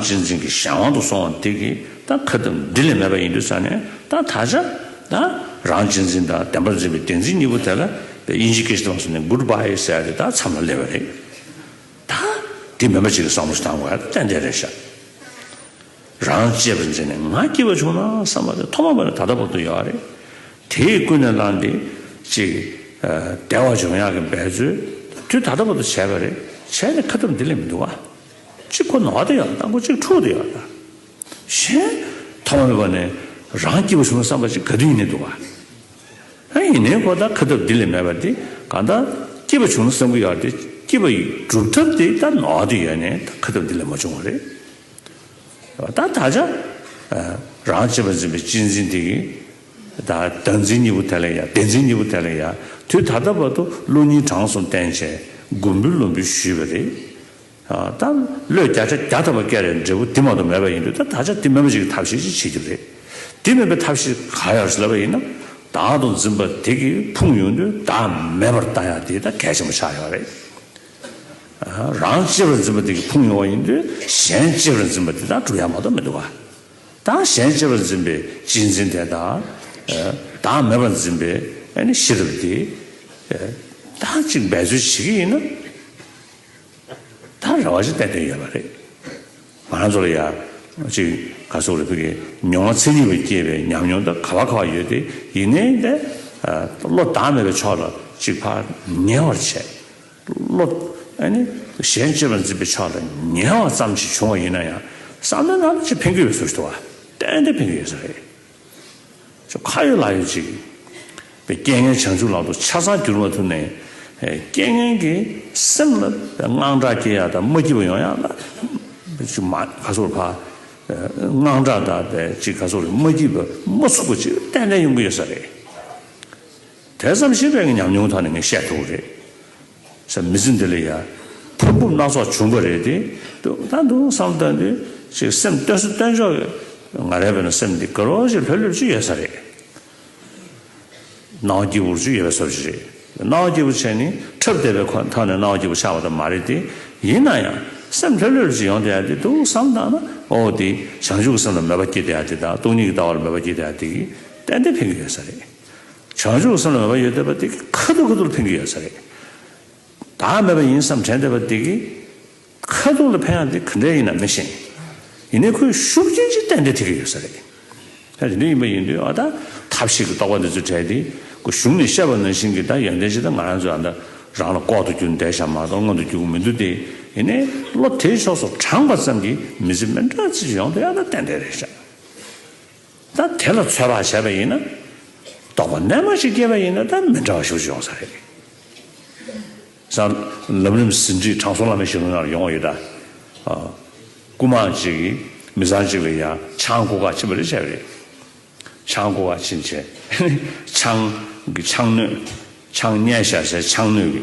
སྤྱི་མཚན་གྱི་གཞན་དབང་དུ་སོང་བ་དེ་གི་ད་ཁ་བཏུམ་འདི་ལས་མེད་པ་ཡིན་དུས་ས་ནས་ད་ད་ཆ་ད་རང་སྤྱི་མཚན་དང་བདེན་པར་འཛིན་པའི་བདེན་འཛིན་གཉིས་པོ་དེ་ལ་དབྱིན་ཇི་ཀི་ཞི་ཏོང་སོ་ནི་གུར་བྷ་ཧེ་ཟེར་ཡ་དེ་ད་མཚམས་ལ་སླེབས་པ་རེད། ད་འདི་མེད་པ་ཅིག་གི་བསམ་བློ་ཞིག་བཏང་དགོས་ཡ་ཏན་ཏན་རེད་ཤག། རང་གཅེས་པར་འཛིན་ནས་ང་སྐྱིད་པ་བྱུང་ན་བསམ་པ་དེ་ཐོག་མ་པ་ནས་ད་ལྟ་བར་དུ་ཡོད་རེད། དེས་ཀུན་ནས་བསླངས་ཏེ་ཅིག་བདེ་བ་འབྱུང་ཡག་གི་འབད་རྩོལ་དུས་ད་ལྟ་བར་དུ་བྱས་པ་རེད་བྱས་ནས་ཁ་བཏུམ་འདི་ལས་མི་འདུག་ཨ། གཅིག་ཁོ་ནོག་དེ་ཡང་དང་པོ་གཅིག་འཁྲུགས་དེ་ཡང་གཞན། ཐ་མ་མེད་པ་ནི་རང་སྐྱེས་བུ་བྱུང་བསམ་པ་ཅིག་ག་དུས་ཡིན་ནས་འདུག་བ། ཨ་ཡིན་ནའི་ཁོ་ད་ཁ་ཐབས་འདི་ལས་མེད་པ་དེ་གང་ད་སྐྱེས་པ་བྱུང་ན་བསམ་གི་ཡོད་དེ་སྐྱེས་པ་ཡི་གྲུབ་ཐབས་དེ་ད་ནོག་དེ་ཡོད་ནས་ད་ཁ་ཐབས་འདི་ལས་མ་བྱུང་བ་རེད། ད་ད་ཆ་རང་བྱེད་པ་འཛིན་པའི་སྤྱི་འཛིན་དེ་གི་ད་བདག་འཛིན་གཉིས་པོ་དེ་ལས་ཡ་བདེན་འཛིན་གཉིས་པོ་དེ་ལས་ཡ་དུས་ད་ལྟ་བར་དུ་ཀླུ་གཉིས་དྲང་སོང་བསྟན་བྱས་མགོ་འབུལ་བློ་འབུལ་ཞུས་པ་རེད། ད་བློས་བརྒྱ་ཆ་བརྒྱ་ཐོབ་པ་སྐད་རེད་འབྲས་བུ་དེ་མ་གཏོགས་མེད་པ་ཡིན་དུས་ད་ད་ཆ་དེ་མེད་པ་ཞིག་གི་ཐབས་ཤེས་ཅི་བྱེད་རྒྱུ་རེད། དེ་མེད་པའི་ཐབས་ཤེས་གང་ཡོད་རེད་ཟེར་བ་ཡིན་ན། བདག་དང་འཛིན་པ་དེ་གིས་ཕུང་ཡོང་དུས་བདག་མེད་པར་བལྟ་ཡ་དེ་ད་གལ་ཆེན་པོ་ཆགས་ཡོད་རེད། རང་གཅེས་པར་འཛིན་པ་དེ་གིས་ཕུང་ཡོང་བ་ཡིན་དུས་གཞན་གཅེས་པར་འཛིན་པ་དེ་དང་གྲུབ་ཡ་མ་གཏོགས་མི་འདུག་ག། ད་གཞན་གཅེས་པར་འཛིན་པའི་གཅེས་འཛིན་དེ་དང། བདག་མེད་པར་འཛིན་པའི་ཤེས་རབ་དེ། ད་གཅིག་འབད་རྩོལ་བྱེད་ཀྱི་ཡིན་ན། ད་རེ་བ་ཞིག་བསྟན་དོན་ཡོད་པ་རེད། ང་རང་ཚོ་ལ་ཡང་ཅིག་ག་སོག་རེ་ཕུལ་གི་མྱོང་བ་ཚད་ལྡན་བས་སྐྱེས་པའི་ཉམས་མྱོང་དང་ག་བ་ག་བ་ཡོད་དེ་ཡིན་ནའི་ད་བློ་བདག་མེད་པའི་ཕྱོགས་ལ་ཅིག་ཕར་ཉལ་བར་བྱས། བློ་གཞན་གཅེས་པར་འཛིན་པའི་ཕྱོགས་ལ་ཉལ་བ་ཙམ་ཞིག་བྱུང་བ་ཡིན་ན་ཡང་བསམ་བློའི་ནང་ལ་ཅིག་འཕེན་གྱི་ཡོད་ཚུལ་ཞིག་ཏུ་བ་ཏན་ཏན་འཕེན་གྱི་ཡོད་ས་རེད། ཁྱོད་ཁ་ཡོད་ལག་ཡོད་ཅིག། པའི་རྐྱེན་ངན་བྱང་ཆུབ་ལག་ཏུ་ཆ་ཚང་གྱུར་པ་ཐུབ་ནས། རྐྱེན་ངན་གྱི་སེམས་ལ་དངངས་སྐྲག་སྐྱེ་ཡག་དང་མ་སྐྱིད་པ་ཡོང་ཡག་ལ། ཅིག་མ་ག་སོགས་ལ་ཕ། དངངས་སྐྲག་དང་པའི་ཅིག་ག་སོགས་ལ་མ་སྐྱིད་པ་མ་ཚུགས་པ་ཅིག་ཏན་ཏན་ཡོང་གི་ཡོད་ས་རེད། དེ་ཙམ་ཞིག་རེད་ངས་ཉམས་མྱོང་ཐོག་ནས་ངས་བཤད་ཐུབ་རེད། བྱ་མི་ཚེ་འདི་ལ་ཡང་ཕུང་པོ་སྣ་ཚོགས་བྱུང་པ་རེད་དེ། དུས་ད་དུང་བསམ་བློ་གཏོང་དུས་ཤིག་སེམས་གཏོད་སུ་གཏོད་འཇོག་གི་ང་རེ་བས་ན་སེམས་འདི་དགེ་རོགས་ཤིག་ལྷོད་ལྷོད་ཅིག་ཡོད་ས་རེད། གནའ་བོ་སྐྱིད་པོ་ཅིག་ཡོད་ས་རེད། གནའ་བོ་སྐྱིད་པོ་བྱས་ནི་འཁྲབ་བསྡད་པའི་ཁོ་ཐག་ནས་གནའ་བོ་སྐྱིད་པོ་ཆགས་པ་དང་མ་རེད་དེ། ཡིན་ན་ཡང་སེམས་ལྷོད་ལྷོད་ཅིག་ཡོང་དེ་ཡང་དེ་ཐུགས་བསམ་དང་ན་འོ་དེ་བྱང་ཆུབ་ཀྱི་སེམས་ལ་མོས་པ་སྐྱེས་དེ་ཡང་དེ་དང་སྟོང་ཉིད་ཀྱི་ལྟ་བ་ལ་མོས་པ་སྐྱེས་དེ་ཡང་དེ་གིས་ཏན་ཏན་ཕན་གྱི་ཡོད་ས་རེད། བྱང་ཆུབ་སེམས་ལ་མོས་པ་ཡོད་བསྡད་པ་དེ་གིས་ཁ་ཐུར་ཁ་ཐུར་འཕེན་གྱི་ཡོད་ས་རེད། བདག་མེད་པ་ཡིན་བསམ་དྲན་བསྡད་པ་དེ་གིས་ཁ་ཐུར་ལ་འཕེན་ཡང་དེ་ག་འདྲས་ཡིན་ན་མི་ཤེས། ཡིན་ནའི་ཁོའི་ཤུགས་རྐྱེན་གྱིས་གཏན་འདྲེ་ཐེབས་ཀྱི་ཡོད་ས་རེད། ད་དེ་འདྲ་ཡིན་པ་ཡིན་དུས་ཨ་ད་ཐབས་ཤེས་ཀྱི་རྟོག་པ་འདི་ཚོ་བྲལ་ཏེ་ཁོ་གཞུང་ནས་བཤད་པ་ནང་བཞིན་གྱི་ད་ཡོན་ཏན་ཅིག་ད་ང་རང་ཚོས་ཨ་ད་རང་ལ་ལྐོག་ཏུ་གྱུར་འདས་ཤག་མ་གཏོགས་སྔོན་དུ་རྒྱུག་གི་མི་འདུག་སྟེ་ཡིན་ནའི་བློ་དེའི་ཕྱོགས་སུ་དྲངས་པ་ཙམ་གྱིས་མི་ཚེ་མི་འདྲ་ཚིག་ཅིག་ཡོང་དུས་ཨ་ད་གཏན་འདྲེ་རེད་ཤག། ད་དེ་ལ་ཚོད་དཔག་བྱས་པ་ཡིན་ན། རྟོག་པ་རྣལ་མ་ཞིག་སྐྱེས་པ་ཡིན་ན་ད་མི་འདྲ་བ་ཞིག་ཏུ་ཡོང་ས་རེད། སང་ལམ་རིམ་ཟིན་བྲིས་དྲང་སྲོང་བླ་མའི་ཞལ་ལུང་ཡང་ཡོང་བ་ཡོད། སྐུ་མང་གཅིག་གིས་མི་ཚང་གཅིག་ལ་ཡང་ཆང་ཁུ་ཁ་ཕྱིན་པ་རེད་བྱས་པ་རེད། ཆང་ཁུ་ཁ་ཕྱིན་བྱས་ནས་ཆང་གི་ཆང་སྣོད་ཆང་བསྙལ་བཞག་བྱས་ཆང་སྣོད་ཀྱི།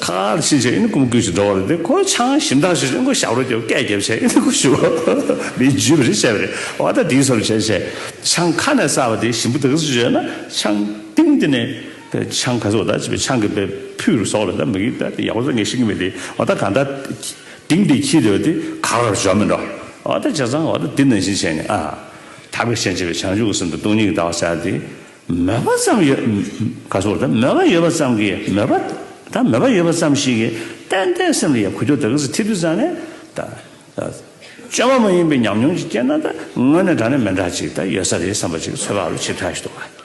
ཁ་ཨར་ཕྱིན་ཆད་ཨིན་སྐུ་མགུལ་གྱི་འགྲོ་བ་རུ་དེ་ཁོའི་ཆང་ཞིམ་ཐང་ཞིག་ཨིན་སྐུ་ཞབས་རུ་རྒྱབ་སྐད་རྒྱབ་བྱས་ཨིན་སྐུ་ཞུ་བ་མིའི་རྒྱུད་པ་རེད་བྱས་པ་རེད་བ་ད་དེའི་སོར་བྱས་བྱས་ཆང་ཁ་ནས་བསགས་པ་དེ་ཞིམ་པོ་དག་ཟིག་བྱས་ན་ཆང་སྟེང་དེ་ནས་དེ་ཆང་ག་ཟིག་བ་ད་བྱས་པའི་ཆང་གི་པའི་ཕུད་རུ་ཟོག་ལ་ད་མིག་ད་དེ་ཡག་པོ་ཟོ་ངས་ཤེས་ཀྱི་མི་དེ་བ་ད་གང་ད་དེང་དེ་ཁྱི་རེད་བ་དེ་ག་ར་རུ་འཇོག་མི་འགྲོ་བ་ད་བྱས་ཙང་བ་ད་དེ་ནང་བཞིན་བྱས་ནས་ཨ། ད་བས་ཤེས་བྱས་པའི་ཆང་ཞུགས་གསུམ་དང་སྟོང་ཉིས་ཀྱི་ད་བ་བསགས་དེ། མོས་པ་ཙམ་ཡོད། ག་སོགས་དང་མོས་པ་ཡོད་པ་ཙམ་གྱིས་མོས་པ་དང་མོས་པ་ཡོད་པ་ཙམ་ཞིག་གིས་གཏན་བདེའི་སེམས་ལ་ཡང་གུད་དུ་དག་གིས་ཐིབས་དུ་བཙལ་ནས་ད། བཅོས་མ་མ་ཡིན་པའི་ཉམས་མྱོང་ཅིག་སྐྱེས་ན་ད་དངོས་གནས་དྲང་ནས་མི་འདྲ་ཅིག་ད་ཡོད་ས་རེད་བསམ་པ་ཅིག་འཚོལ་བ་ལ་ཆེས་ཕྲ་ཞིག་འདུག་ག།